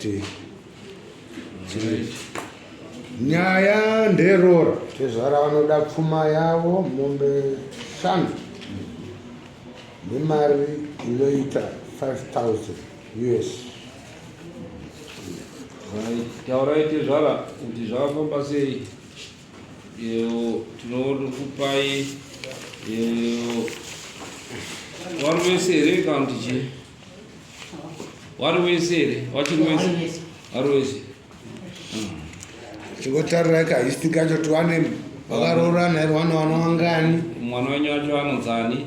kuti nyaya nderora tezvara vanoda pfuma yavo mombe shanu nemari inoita 5000 us taurai tezvara kuti zvakafamba sei tinokupai wari wese here kana kuti chii wari wese here wachiri wese wari wese chingotarirai kahisti kacho tiwane vakaroorana here wana wana wangani mwana wenyu wacho anonzani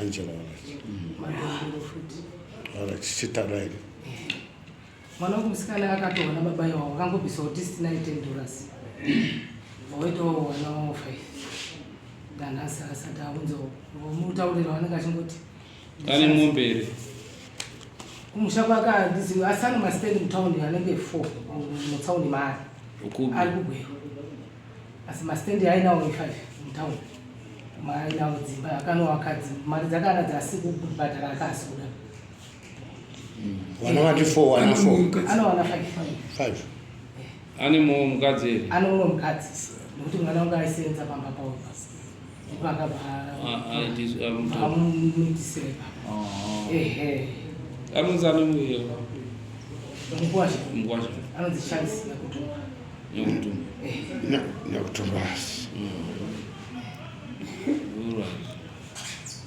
Angela Warachi. Warachi chitara here? Mwana wangu musikana akatoona baba iwawo vakangobvisa kuti sitina itendoras. Waitawo wana wawo five. Danhasi asati aunza mutaurira wanenge achingoti. Ane mombe here? Kumusha kwake handizivi asi ane masitendi mutaundi anenge four mutaundi maari. Ari kugweru. asi mastendi ainawo e5 mutown maainawo dzimba akanovaka dzimba mari dzakaana dzasi kubhadhara akasi kuda vana vati four wana four anowana five five ane mumwe mukadzi here ane mumwe mukadzi nokuti mwana wangu aisenza pamba pawo nyakutumbasi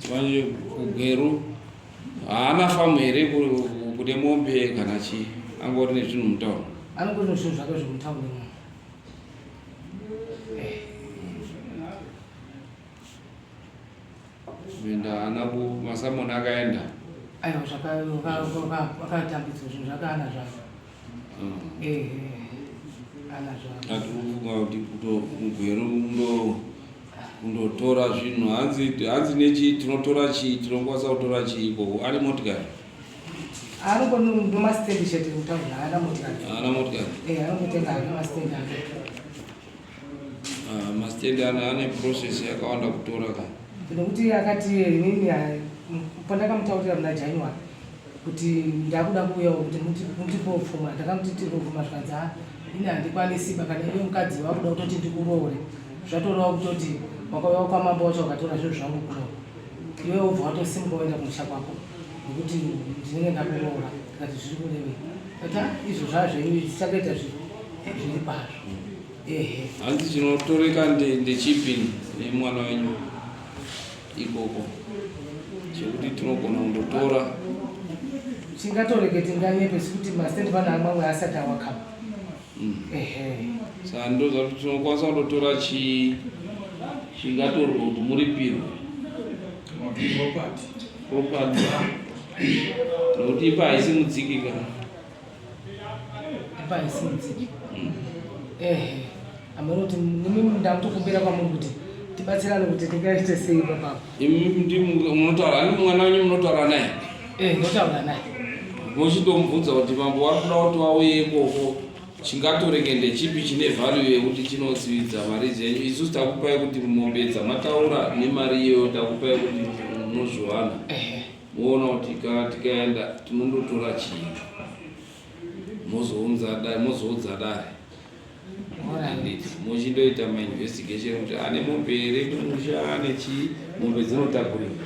manje kugweru haana famu here kune mombe kana chii angori nezvinhu mutauro anongori nezvinhu zvake zvekutaurimwa kuenda ana masamoni akaenda aiwa zvakatambidza zvinhu zvakaana zvavo atikufunga kuti kutogwero kundotora zvinhu hanzi hanzi nechii tinotora chii tinokwanisa kutora chii ikoko ari motikari anongonomastendi chete kutaura haana motikari haana motikari eh anongotenga hake mastendi ake ah, mastendi ana ane process yakawanda kutora ka nekuti akati inini pandakamutaurira muna january kuti ndakuda kuuyawo kuti mutipofuma ndakamuti tirofuma zvikanzi ha ini handikwanisi ba kana iwe mukadzi wakuda kutoti ndikuroore zvatorawo kutoti wakauya kwamambo wacho wakatora zvinhu zvangu kuno iwe wobva watosimuka woenda kumusha kwako nokuti ndinenge ndakuroora tikati zviri kurevei kati "Ah, izvo zvazvenyu izvi tichatoita zvi- zviri kwazvo ehe hanzi chinotoreka nde- ndechipi nemwana wenyu ikoko chekuti tinogona kundotora tingatoreke tinganyepe sekuti mastand pana amwamwe asati awakama saka ndozvatinokwanisa kutotora chii chingatorwa kuti muripirwe property nokuti ipa haisi mudziki kana ipa haisi mudziki mm. ehe amene kuti nimi ndamutokumbira kwamuri kuti tibatsirane kuti tingaite sei papapo imi munotaura ani mwana wenyu munotaura naye Eh, ndotaura naye. Mochitomubvunza kuti mambo wari kuda kuti wauye ikoko chingatorenge ndechipi chine value yekuti chinosividza mari dzenyu isusu takupai kuti mombe dzamataura nemari iyoyo takupai kuti munozviwana moona kuti kana tikaenda tinondotora chii mozoudza dare mochindoita mainvestigation kuti ane mombe here kumusha ane chii mombe dzinotakurika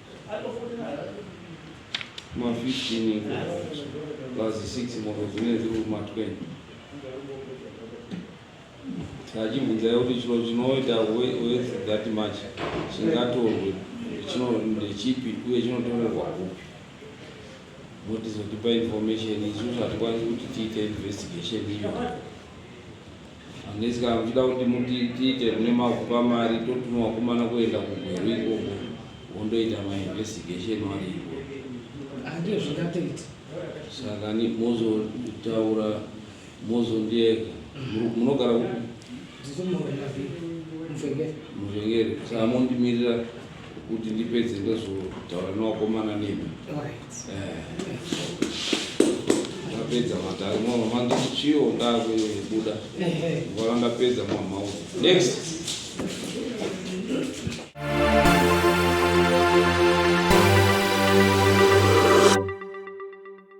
ma 15 iko plus 6 moko dzine dziri kuma 20 achibvunzai kuti chiro chinoita with that much chingatorwe chino ndechipi uye chinotorerwa kupi motizotipa information isu zvatikwanisi kuti tiite investigation iyo Unless kana muchida kuti muti- tiite kune mavhu pamari totuma wakomana kuenda kugweru ikoko wondoita mainvestigation wari ikoko Ah, ndiyo zvingatoita saka ni- mozotaura mozondieka Mu- munogara kupi? ndiri muromavi mvengere muvhengeri saka mondimirira kuti ndipedze ndozotaura newakomana nemi ndapedza eh. matari mama manditi chiyo ndakubuda ngwara ndapedza mama next